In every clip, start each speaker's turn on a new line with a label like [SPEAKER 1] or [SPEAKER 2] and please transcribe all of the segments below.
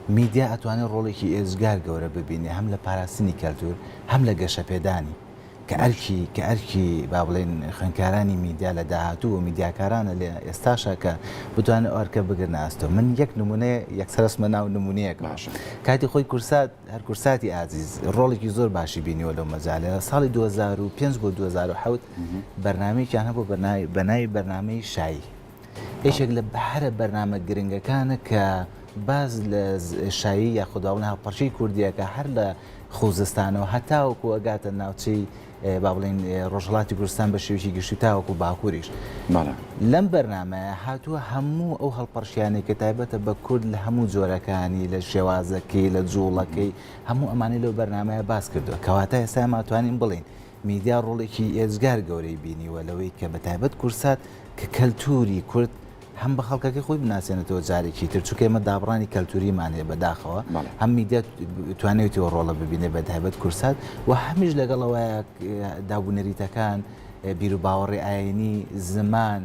[SPEAKER 1] میدیا ئەتوانێت ڕۆڵێکی ئێجگار گەورە ببینێت هەم لە پاراستنی کەلتوور هەم لە گەشەپێدانی کە ئەرکی کە ئەرکی با بڵێن خوێندکارانی میدیا لە داهاتوو و میدیاکارانە لە ئێستاشا کە بتوانن ئەو ئەرکە بگرنە ئەستۆ من یەک نمونەیە یەکسەر ئەچمە ناو نمونەیەک باش کاتی خۆی
[SPEAKER 2] کورسات
[SPEAKER 1] هەر کورساتی ئازیز ڕۆڵێکی زۆر باشی بینیوە لەو مەجالە لە ساڵی 2005 بۆ 2007 بەرنمەیەکیان هەبوو بەناوی بەناوی بەرنمەی شایی یەکێک لە هەرە بەرنامە گرنگەکانە کە باز لە شایی یا خودداڵن هاوپەرچی کوردیەکە هەر لە خوزستانەوە هەتاوەکو ئەگاتە ناوچەی با بڵین ڕۆژهڵاتی کوردستان بە شێوکی گشتی تاوەکو باکووریش لەم بەرنمەیە هاتووە هەموو ئەو هەڵپەرشیانێک کە تایبەتە بە کورد لە هەموو جۆرەکانی لە شێوازەکەی لە جوڵەکەی هەموو ئەمانی لەو بەرنمەیە باس کردووە کەواتە ئێستا ماتوانین بڵین میدیا ڕۆڵێکی ئێجگار گەورەی بینیوە لەوەی کە بەتایبەت کورسات کە کەلتووری کورد هەم بە خەڵکەکەی خۆی بناسێنێتەوە جارێکی تر چونکە ئێمە دابڕانی کەلتووریمان هەیە بەداخەوە هەم میدیا توانێتەوە ڕۆڵە ببینێ بەتایبەت کورسات و هەمیش لەگەڵەوەیە دابوونەریتەکان بیرو باوەڕی ئاینی زمان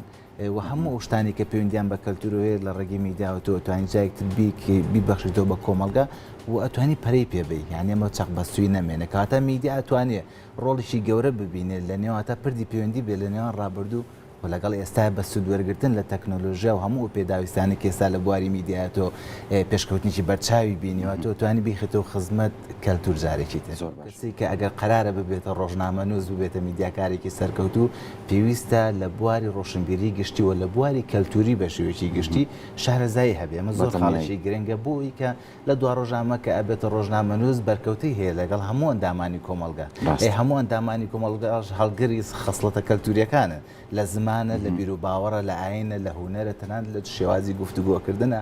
[SPEAKER 1] و هەموو ئەو شتانەی کە پەیوەندیان بە کەلتورو هەیە لە ڕێگەی میدیاوە تۆ ئەتوانی جا یەکتر بیکەی بیبەخشیتەوە بە کۆمەڵگە و ئەتوانی پەرەی پێ بەی یان ئەمە چەق بەستوی نەمێنێ کەواتە میدیا ئەتوانێ ڕۆڵیشی گەورە ببینێ لە نێواتە پردی پەیوەندی بێ لە نێوان ڕابردوو و لەگەڵ ئێستا بە سوود وەرگرتن لە تەکنۆلۆژیا و هەموو پێداویستانی کە ئێستا لە بواری میدیایە تۆ پێشکەوتنیی بەرچاوی بینیوە تۆ توانی بیخیتەوە خزمەت کەلتور جارێکی تر زۆر باش کەسێک کە ئەگەر قەرارە ببێتە ڕۆژنامەنووس ببێتە میدیاکارێکی سەرکەوتوو پێویستە لە بواری ڕۆشنبیری گشتی و لە بواری کەلتوری بە شێوەیەکی گشتی شارەزایی هەبێ ئەمە زۆر خاڵێکی گرنگە بۆی کە لە دوا ڕۆژامە کە ئەبێتە ڕۆژنامەنووس بەرکەوتەی هەیە لەگەڵ هەموو ئەندامانی کۆمەڵگە ئەی هەموو ئەندامانی کۆمەڵگاش هەڵگری خەسڵەتە کەلتوریەکانن لە زمانە لە بیرو باوەڕە لە ئاینە لە هونەرە تەنانەت لە شێوازی گفتوگۆکردنە